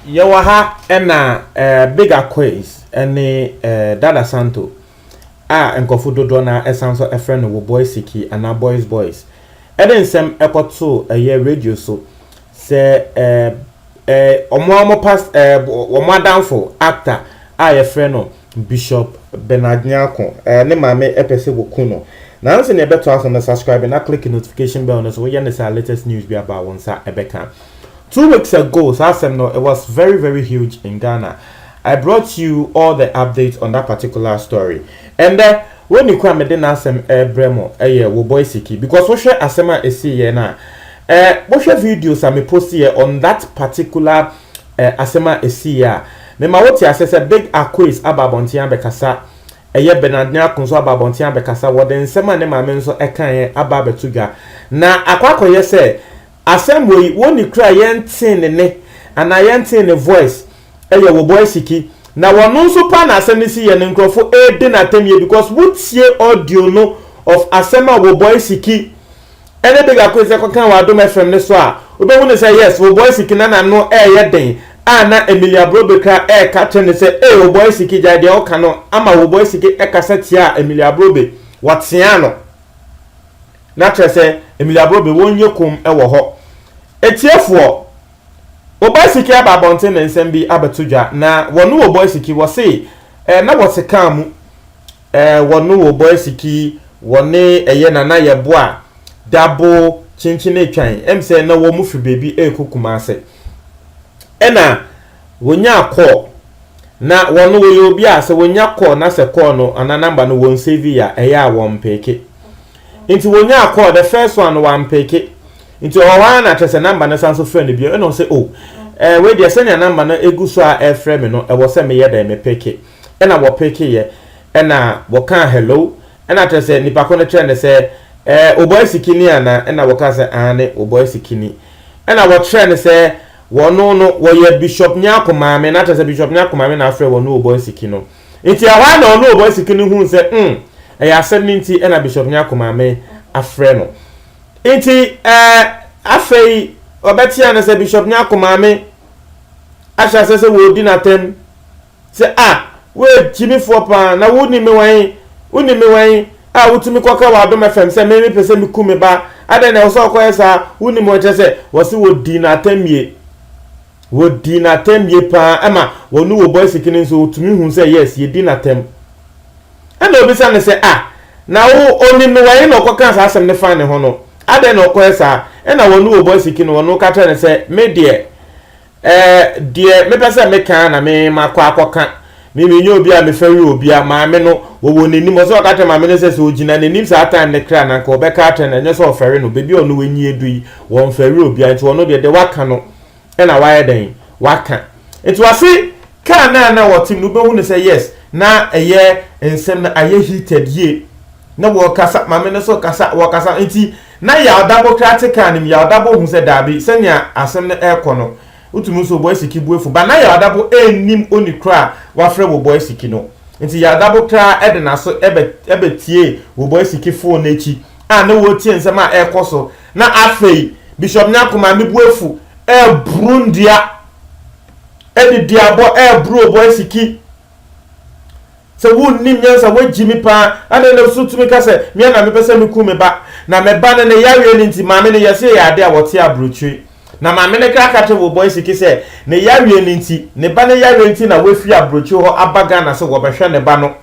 yɛwɔ ha ɛna ɛɛ eh, big akoes ɛne ɛɛ eh, dada santo a nkɔfo dodoɔ na ɛsan so ɛfrɛ no wɔ boys siki anaa boys boys ɛde nsɛm ɛkɔto ɛyɛ radio so sɛ ɛɛ. Eh, eh, wɔn a wɔn past eh, wɔn adamfo actor a yɛfrɛ no Bishop Bernard Nyarko eh, ne maame ɛpɛ sɛ wɔku no nanso nea ɛbɛto aso no subscribe na click notification bell no so woyɛ ne saa latest news bi aba wo nsa ɛbɛka two weeks ago saa asɛm no it was very very huge in Ghana I brought you all the updates on that particular story and then wɔn ni kɔ a mede n'asɛm ɛbrɛ mo ɛyɛ wo boy siki because wohwɛ asɛm a ɛsii yɛ no a Eh mohwɛ videos a me postiɛ on that particular eh asɛm a ɛsiiɛ a, me ma wo te aseɛ sɛ Big Akoes aba abɔnten abɛkasa, ɛyɛ Bernard Nyarko nso aba abɔnten abɛkasa, wɔde nsɛm a ne maame nso kaeɛ aba abɛto dwa. Na akɔ akɔyɛ sɛ asɛm wɔ yi wɔ ni koraa yɛn tee ne ne anaa yɛn tee ne voice ɛyɛ wɔ Boy Siki. Na wɔ no nso paa na asɛm no siiɛ no nkorɔfo ɛɛdi no atɛmyɛ because wo tie audio no of asɛm a wɔ Boy Siki Ɛne de Gakoi sɛ kɔka wɔ Adom FM no so a wobɛhu no sɛ yes Oboy Siki na n'ano ɛɛyɛ den a na Emilia Brobekra ɛɛka kyerɛ no sɛ ee Oboy Siki gyae deɛ woka no ama Oboy Siki ɛkasa tiaa Emilia Brobe wɔteaa no na kyerɛ sɛ Emilia Brobe wonyɛ komm ɛwɔ hɔ Atiefoɔ Oboy Siki aba abɔnten ne nsɛm bi abɛto dwa na wɔne Oboy Siki wɔse ɛɛ na wɔte kaa mu Eh wɔno wo bɔ asiki wɔne ɛyɛ nana yɛ boa dabo kyenkyene twan ɛm sɛ na wɔn firi baabi ɛrekɔ kumase ɛna wɔnya kɔɔ na wɔno wɔyɛ obi a sɛ wɔnya kɔɔ na sɛ kɔɔ no ana namba no wɔn save ya ɛyɛ a wɔn mpeke nti wɔnya kɔɔ the first one no wɔn mpeke nti ɔwɔ hɔ ara na kyɛ sɛ namba no san so frɛ no bio ɛna ɔsɛ o oh, ɛɛ eh, wei deɛ sɛnea namba no egu so a ɛfrɛ me no ɛwɔ sɛ meyɛ dɛ mepeke ɛna wɔpeke yɛ ɛna wɔkaa hello ɛna kyerɛ sɛ nipa ko no kyerɛ ne sɛ ɛɛ obɔ asikini ana ɛna wɔka sɛ aane obɔ asikini ɛna wɔkyerɛ ne sɛ wɔno no wɔyɛ bishop nyako maame na kyerɛ sɛ bishop nyako maame na afrɛ wɔno obɔ asiki no nti ɛhɔ a na ɔno obɔ asiki no hu sɛ mm ɛyɛ asɛm no nti ɛna bishop nyako maame afrɛ no nti ɛɛ afei ɔbɛtea no sɛ bishop nyako maame ahyɛ asɛ sɛ wɔredi n'atam Sɛ, a, woyɛ gyimifoɔ pa ara, na wonim me wɔ he? Wonim me wɔ he, a wotumi kɔka wɔ adom FM sɛ me, mepɛ sɛ meku me ba? Adɛn na ɛwɔ sɛ ɔkɔyɛ saa? Wonim wɔn, kyerɛ sɛ, wɔse wɔdii no atɛmmie. Wɔdii no atɛmmie pa ara, ɛma wɔne wɔ bɔ asike no nso, wɔtumi hu sɛ, yes, yɛdi no atɛm. Ɛna ɔbisa no sɛ, a, na wo, ɔnim no wɔ he na ɔkɔkaa saa asɛm no faa ne ho no? Adɛn na ɔkɔyɛ saa? Ɛna wɔne wɔ bɔ asike no, wɔno ka kyerɛɛ no sɛ, me deɛ, Eh deɛ mepɛ sɛ meka ara na me makɔ akɔka me menyɛ obi a mefa wi obi a maame no wɔwɔ n'anim ɔsɛ ɔka kyerɛ maame no sɛ sɛ ɔgyina n'anim saa time ne kra na nka ɔbɛka akyerɛ no ɛnyɛ sɛ ɔfɛre no baabi a ɔno w'ani edu yi wɔmfa wi obi a nti ɔno deɛ deɛ waka no ɛna wayɛ dɛn waka nti wase kaa no a na wɔtem no wobɛhu no sɛ yes na ɛyɛ nsɛm no ayɛ heated yie Na wɔkasa, maame no so kasa, wɔkasa. Nti na Yaadabo koraa te kaa no mu. Yaadabo hu sɛ daabi, sɛnea asɛm no rekɔ no, wotumi nso Oboisiki bo afu. But na Yaadabo nnim oni korɔ a wafrɛ wɔ Oboisiki no. Nti Yaadabo koraa de n'aso bɛ, bɛtiee wɔ Oboisiki phone no akyi a na wɔretie nsɛm a ɛrekɔ so. Na afei, Bishop Nyarko, maame bo afu, ɛreboro nnua, ɛde duabɔ ɛreboro Oboisiki Sɛ wunnim nyansa, woagyimi paa, adɛn na wusu tumi ka sɛ, Me ara na mepɛ sɛ mikum me ba, na me ba no ne yareɛ no nti, maame no yɛse yɛ adeɛ a wɔte aburokyire, na maame no kra ka kyerɛ wo boy siki sɛ ne yareɛ no nti, ne ba no yareɛ nti na wafi aburokyire hɔ aba Ghana sɛ wɔbɛhwɛ ne ba no.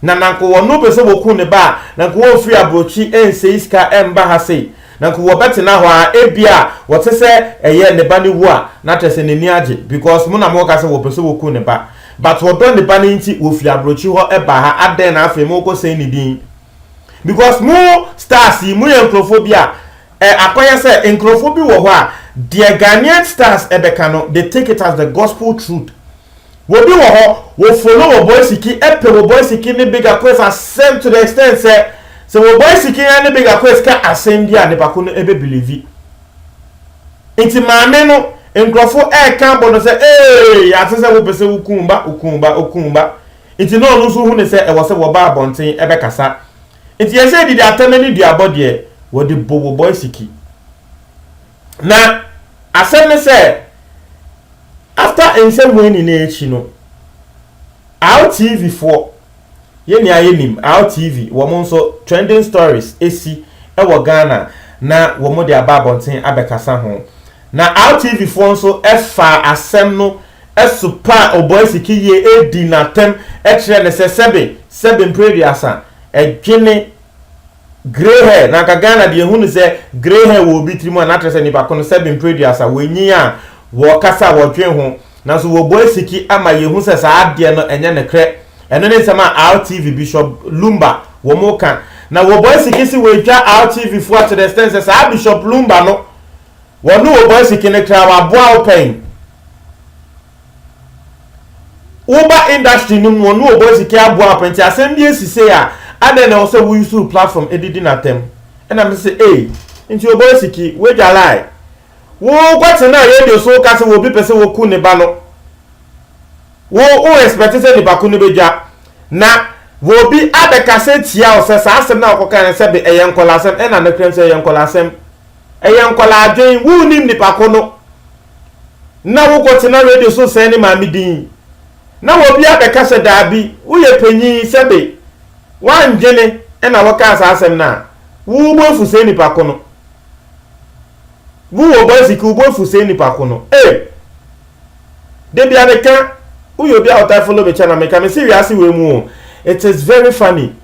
Na nanko wɔ no pɛ sɛ wɔ ku ne ba a, nanko wɔ firi abrokyi nsɛi sika mba ha sei, nanko wɔ bɛ tena hɔ a, ebia wɔ te sɛ ɛyɛ ne ba no wu a, na kyerɛ sɛ n'ani agye, because mo na mo ka sɛ wɔ pɛ sɛ wɔ ku ne ba, but wɔ dɔ ne ba no nti wɔ firi abrokyi hɔ ba ha, adɛn na afei mo kɔ sɛi ne din? Because mo stars yi mo yɛ nkorɔfoɔ bi a, ɛ akɔ yɛ sɛ nkorɔfoɔ bi wɔ hɔ a, deɛ Ghanaian stars bɛ ka no, they take it as the gospel truth, Wɔ bi wɔ hɔ wɔ follow wɔ boy siki ɛpɛ wɔ boy siki ne bigger quest asɛm to the extent sɛ sɛ wɔ boy siki ɛne bigger quest ka asɛm bi a nipako no ɛbɛ believe nti maame no nkurɔfo ɛɛka abɔ no sɛ eeii yɛate sɛ wo pɛ sɛ wo kun ba wo kun ba wo kun ba nti na ɔno nso hu ne sɛ ɛwɔ sɛ wɔ ba abɔnten ɛbɛ kasa nti yɛsɛ didi atɛmɛ ne duabɔ deɛ wɔ de bo wɔ boy siki. Na asɛm ne sɛ after nsɛmua nyinaa akyi no, Awo TV foɔ yɛ nea yɛnim, Awo TV wɔn nso trending stories asi wɔ Ghana na wɔde aba abɔnten abɛkasa ho. Na Awo TV foɔ nso faa asɛm no sopaa Oboisiki yie dii no atɛm kyerɛɛ no sɛ sɛbe sɛbe mprɛ aduasa dwene Grey hair, na anka Ghana deɛ yɛhu no sɛ grey hair wɔ obi tiri mu a, na akyerɛ sɛ nipa ko no sɛbe mprɛduasa, wɔanyin a, wɔkasa a, wɔdwen ho. Nanso wɔbɔ asiki ama yɛhu sɛ saa adeɛ no ɛnyɛ nokorɛ. Ɛno ne nsɛm a Altv Bishop Lumba wɔka. Na wɔbɔ asiki se wɔatwa Altv foɔ to the extent sɛ saa Bishop Lumba no, wɔne wɔbɔ asiki no kra, waboa wo pɛn. woba industry no mu no ɔno ɔbɔ sika aboa apɛ nti asɛm bi esi sei a adɛn na ɛwɔ sɛ wo use platform edidi n'atɛm ɛna me sɛ ei nti ɔbɔ siki wagya lie wokɔ tena radio so woka sɛ wɔ obi pɛ sɛ wɔku ne ba no wo wo expect sɛ nipa ko no bɛdwa na wɔ obi abɛka sɛ tia wo sɛ saa asɛm na wɔkɔka no sɛ be ɛyɛ nkɔla asɛm ɛna ne krɛm sɛ ɛyɛ nkɔla asɛm ɛyɛ nkɔla adwen wo nim nipa ko no na wokɔtena radio so sɛe ne maame din, na obi abɛka sɛ daabi, woyɛ panyin, sɛbe woandwene na wokaa saa asɛm no a, wo bo afu saa nipa ko no. Wo wɔ bicycle, wo bo afu saa nipa ko no. Ei! Da bia meka, woyɛ obi a ɔtaa follow me channel, meka me se wiase wei mu o, it is very funny.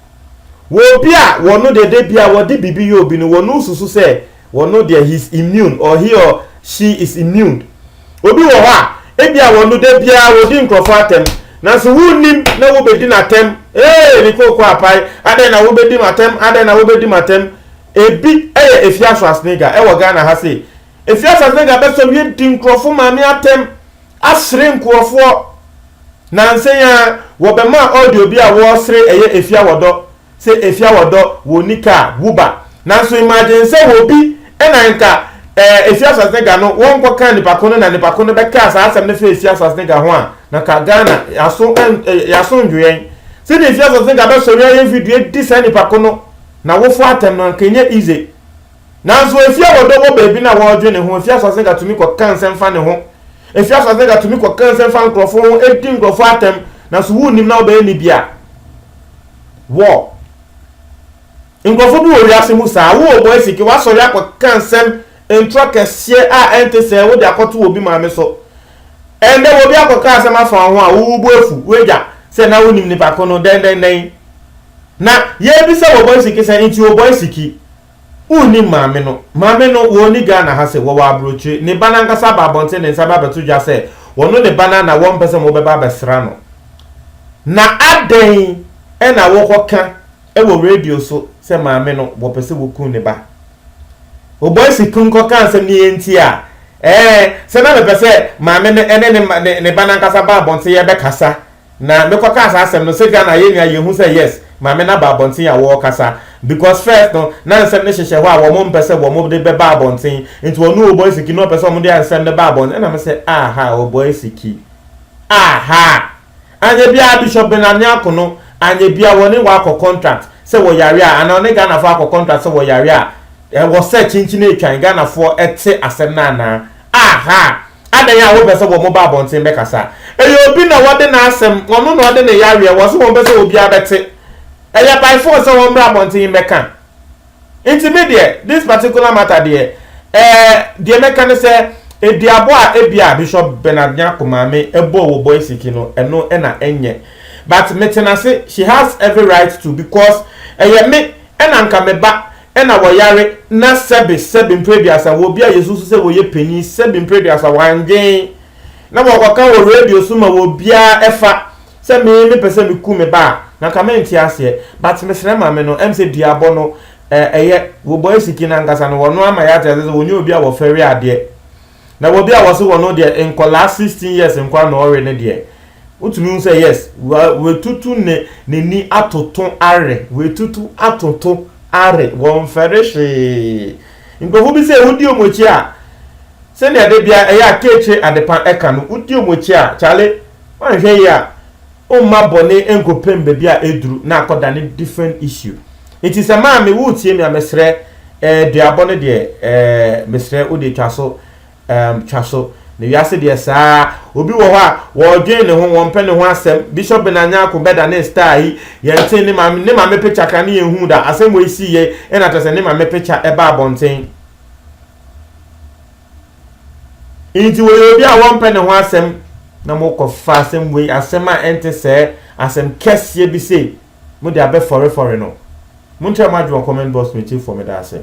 Wɔ obi a wɔno deɛ da bia wɔde biribi yɛ obi no, wɔno susu sɛ Wɔn no deɛ he is immune or he or she is immune. Obi wɔ hɔ a, ebia wɔn no da biara wɔdi nkurɔfoɔ atɛm, nanso wonnim na wobɛdi no atɛm. Ee, ne kooko apae, adɛn na wobɛdi me atɛm, adɛn na wobɛdi me atɛm. Ebi yɛ Efya Schwarzenegger wɔ Ghana ha sei. Efya Schwarzenegger bɛsɔ wie di nkurɔfo maame atɛm, asere nkurɔfoɔ. Nansa yi ara, wɔbɛmaa audio bi a wɔresere ɛyɛ Efya Wɔdɔ. Sɛ efia wɔ dɔ, wɔnni ka a, wu ba. Nanso mma adwene sɛ wɔ bi na nka ɛɛ efia Swasnega no wɔn kɔ ka nipa ko no na nipa ko no bɛ kaa saa asɛm no fa efia Swasnega ho a na ka Ghana yaso ɛn yaso ndwo yɛn sɛdeɛ efia Swasnega bɛ sɔre ayɛ video di saa nipa ko no na wofo atɛm no anka nyɛ easy nanso efia wɔ dɔ wɔ baabi na wɔ dwe ne ho efia Swasnega tumi kɔ ka nsɛm fa ne ho efia Swasnega tumi kɔ ka nsɛm fa nkorɔfo ho edi nkorɔfo atɛm nanso wu nim na wɔ bɛyɛ ne bia. Wɔ nkurɔfo bi wɔ wiase mu saa. Wo wɔ Boise, woasɔre akɔka nsɛm ntorɔ kɛseɛ a ɛnte sɛɛ wode akɔto obi maame so. Ɛnnɛ obi akɔka asɛm afa wo ho a, wo wo bo afu, woagya sɛ na wonim nipa ko no dɛndɛndɛn. Na yɛrebisa wɔ Boise sɛ, nti wɔ Boise? Wonnim maame no. Maame no, wɔ nni Ghana ha se wɔwɔ abrokyire. Ne ba no ankasa aba abɔnten ne nsa bɛabɛto dwa sɛ wɔno ne ba no na wɔmpɛ sɛ mo bɛba abɛsra no. Na adɛn na wokɔ ka wɔ radio so sɛ maame no wɔpɛ sɛ wokum ne ba. Wo boys kun kɔ ka nsɛm no yɛ nti a, ɛɛ, sɛ na mepɛ sɛ maame no ne ne ba no ankasa ba abɔnten yɛbɛkasa Na me kɔ kaa saa asɛm no sɛ Ghana yɛn nua yɛn hu sɛ yes maame no aba abɔnten a wɔ kasa because first no na nsɛm no hyehyɛ hɔ a wɔn mpɛ sɛ wɔn de bɛ ba abɔnten nti ɔno Oboisiki no ɔpɛ sɛ wɔn de nsɛm no ba abɔnten ɛna me sɛ aha Oboisiki aha anyɛ biara Bishop Benani Akono anyɛ biara wɔne wɔ akɔ contract sɛ wɔ yare a anaa ɔne Ghana foɔ akɔ contract sɛ wɔ yare a ɛwɔ sɛ kyinkyin ɛtwan Ghana foɔ ɛte asɛm no anaa Aha! Adɛn a wopɛ sɛ wɔn ba abɔnten bɛkasa? Ɛyɛ obi na wɔde n'asɛm, ɔno na ɔde ne yareɛ, wɔse wɔmpɛ sɛ obiara bɛte. Ɛyɛ by force sɛ wɔmmra abɔnten mmɛka. Nti me deɛ, this particular matter deɛ, eh, deɛ mɛka ne sɛ, eduabɔ a ebia Bishop Bernard Nyarko maame bɔɔ wɔ Boisiki no, ɛno na ɛnyɛ. But mete n'ase, she has every right to because ɛyɛ me na anka me ba na wɔyare na sɛbe sɛbe mprɛduasa wɔ obi a yɛsusu sɛ wɔyɛ panin sɛbe mprɛduasa wandwen na wɔkɔka wɔ radio so ma wɔ biara ɛfa sɛ me me pɛ sɛ me ku me ba a na nka me nte aseɛ but me srɛ mame no ɛm sɛ duabɔ no ɛyɛ wɔ bɔ ɛsiki no ankasa no wɔno ama yɛ ate aseɛ sɛ wɔnyɛ obi a wɔfɛre adeɛ Na wɔ bi a wɔse wɔn no deɛ nkwadaa sixteen years nkwadaa na ɔre no deɛ wotumi hu sɛ yes wa watutu ne n'ani atoto are watutu atoto are wɔnfɛre hwee nkurɔfoɔ bi sɛ wodi wɔn akyi a sɛnea de bia ɛyɛ a keekyire adepa ɛka no wodi wɔn akyi a kyale wɔnhwɛ yie a Omma bɔne nkɔpem baabi a ɛduru na akɔdane different issue. Nti sɛ maame woretie me a mesrɛ eh duabɔ no deɛ eh mesrɛ wo deɛ twa so ehm twa so. Na wiase deɛ saa ara. Obi wɔ hɔ a wɔredwen ne ho, wɔmpɛ ne ho asɛm. Bishop Benard Nyarko bɛdanee star yi, yɛntee ne maame ne maame picture koraa ne yɛnhuu da. Asɛm wei siiɛ na kyerɛ sɛ ne maame picture baa abɔnten. Enti wɔyɛ obi a wɔmpɛ ne ho asɛm na mokɔfa asɛm wei, asɛm a ɛnte sɛɛ, asɛm kɛseɛ bi sei, mode abɛfɔrefɔre no. Monkyerɛ mo adwene wɔ comment box mu, Akyirifoɔ, meda ase.